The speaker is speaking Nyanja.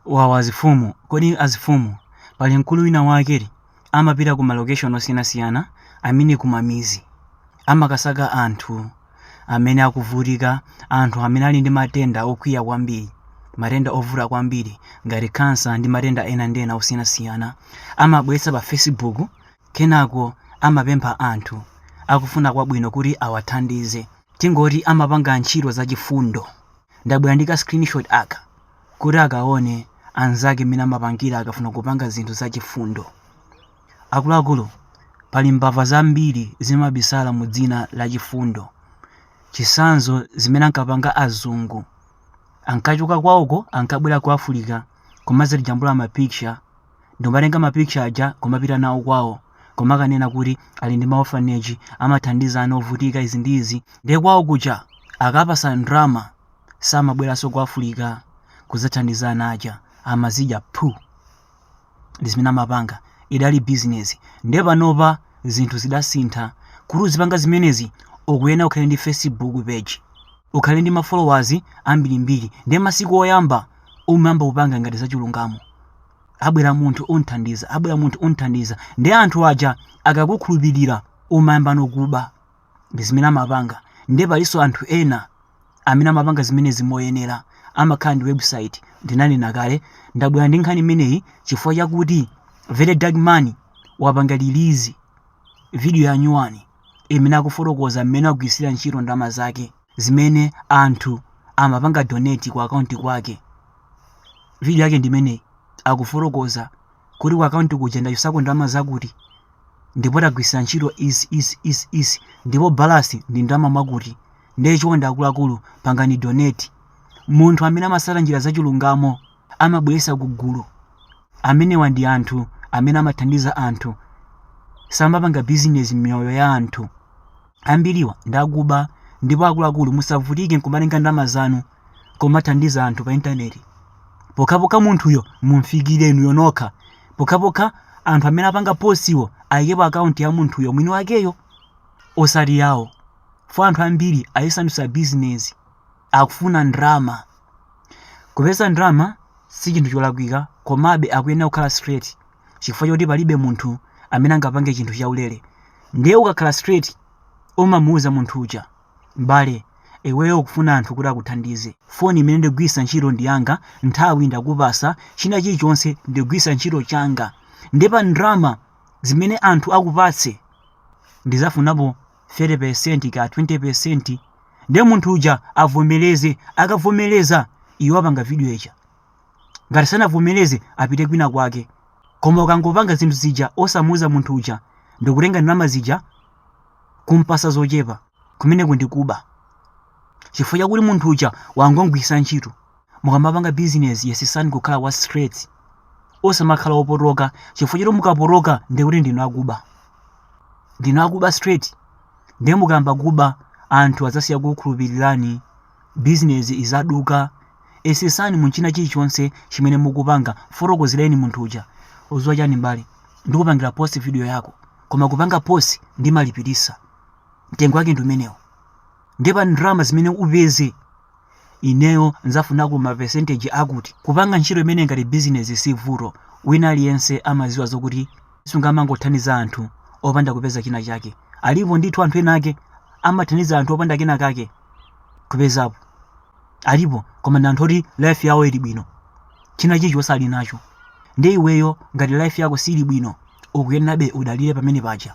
Wawa azifumu kodi azifumu pali mkulu wina wake amapita ku malocation osiyanasiyana amene kumamizi amakasaka anthu amene akuvutika anthu amene ali ndi matenda okwiya kwambiri matenda ovuta kwambiri ngati khansa ndi matenda ena ndi ena osiyanasiyana amabweretsa pa facebook kenako amapempha anthu akufuna kwabwino kuti awathandize tingoti amapanga ntchito zachifundo ndabwera ndi ka screenshot aka kuti akaone anzake mmene amapangira akafuna kupanga zinthu zachifundo. Akuluakulu, pali mbava zambiri zimabisala mu dzina la chifundo. Chitsanzo zimene ankapanga azungu. Ankachoka kwawoko ankabwera ku Africa kumadzatijambula ma picture ndikumatenga ma picture aja kumapita nawo kwawo kumakanena kuti ali ndi ma orphanage amathandiza ana ovutika izi ndi izi ndiye kwawo kuja akawapatsa ndalama samabweranso ku africa kudzathandiza ana aja amazidya phu ndi zimene amapanga idali bizinesi nde panopa zinthu zidasintha kuti uzipanga zimenezi ukuyena ukhale ndi facebook page ukhale ndi mafollowers ambirimbiri nde masiku oyamba umayamba kupanga ngati zachilungamo abwera munthu unthandiza abwera munthu unthandiza nde anthu aja akakukhulupirira umayamba nokuba ndi zimene amapanga ndiye palinso anthu ena amene amapanga zimenezi moyenera amakhala ndi website ndinanena kale ndabwera ndi nkhani imeneyi chifukwa chakuti very dark man wapanga release video ya nyuwani imene akufotokoza mmene wagwiritsira ntchito ndalama zake zimene anthu amapanga donate ku akaunti kwake video yake ndimeneyi akufotokoza kuti ku akaunti kuja ndachosako ndalama zakuti ndipo tagwiritsa ntchito izi izi izi izi ndipo balasi ndi ndalama mwakuti ndiye chonde akuluakulu pangani donate munthu amene amatsata njira zachilungamo amabweretsa kugulu amenewa ndi anthu amene amathandiza anthu samapanga bizinesi m'miyoyo ya anthu Ambiriwa ndi akuba ndipo akuluakulu musavutike nkumatenga ndalama zanu kumathandiza anthu pa intaneti pokhapokha munthuyo mumfikire inuyo nokha, pokhapokha anthu amene apanga postiwo ayikepo akaunti ya munthuyo mwini wakeyo osati yawo fo anthu ambiri ayisandutsa bizinesi akufuna ndalama. Kupeza ndalama si chinthu cholakwika komabe akuyenera kukhala straight. chifukwa chakuti palibe munthu amene angapange chinthu chaulere ndiye ukakhala straight umamuuza munthu uja m'bale iweyo ukufuna anthu kuti akuthandize foni imene ndigwiritsa ntchito ndi yanga nthawi ndikupasa china chilichonse ndigwiritsa ntchito changa nde pa ndrama zimene anthu akupatse ndizafunapo 30% ka 20% ndiye munthu uja avomereze akavomereza iwe wapanga video ija ngati sanavomereze apite kwina kwake koma ukangopanga zinthu zija osamuuza munthu uja ndikutenga ndalama zija kumpasa zochepa kumeneko ndi kuba chifukwa chakuti munthu uja wangomugwiritsa ntchito mukamapanga bizinesi yesetsani kukhala wa straight osamakhala opotoka chifukwa choti mukapotoka ndikuti ndinu akuba ndinu akuba straight ndiye mukayamba kuba anthu adzasiya kukhulupirirani Bizinezi idzaduka. Yesetsani mu china chilichonse chimene mukupanga mfotokozereni munthu uja udziwa chani m'bale ndikupangira post video yako koma kupanga post ndimalipilisa mtengo wake ndiumenewo ndiye pa ndalama zimene upeze ineyo ndzafunako ma percentage akuti. Kupanga ntchito imeneyi ngati bizinezi si vuto wina aliyense amadziwa zokuti. sungamangothandiza anthu opanda kupeza china chake alipo ndithu anthu ena ake amathandiza anthu opanda kena kake kupezapo alipo koma ndi anthu oti life yawo ili bwino china chilichonse ali nacho ndiye iweyo ngati life yako sili bwino ukuyenerabe udalire pamene paja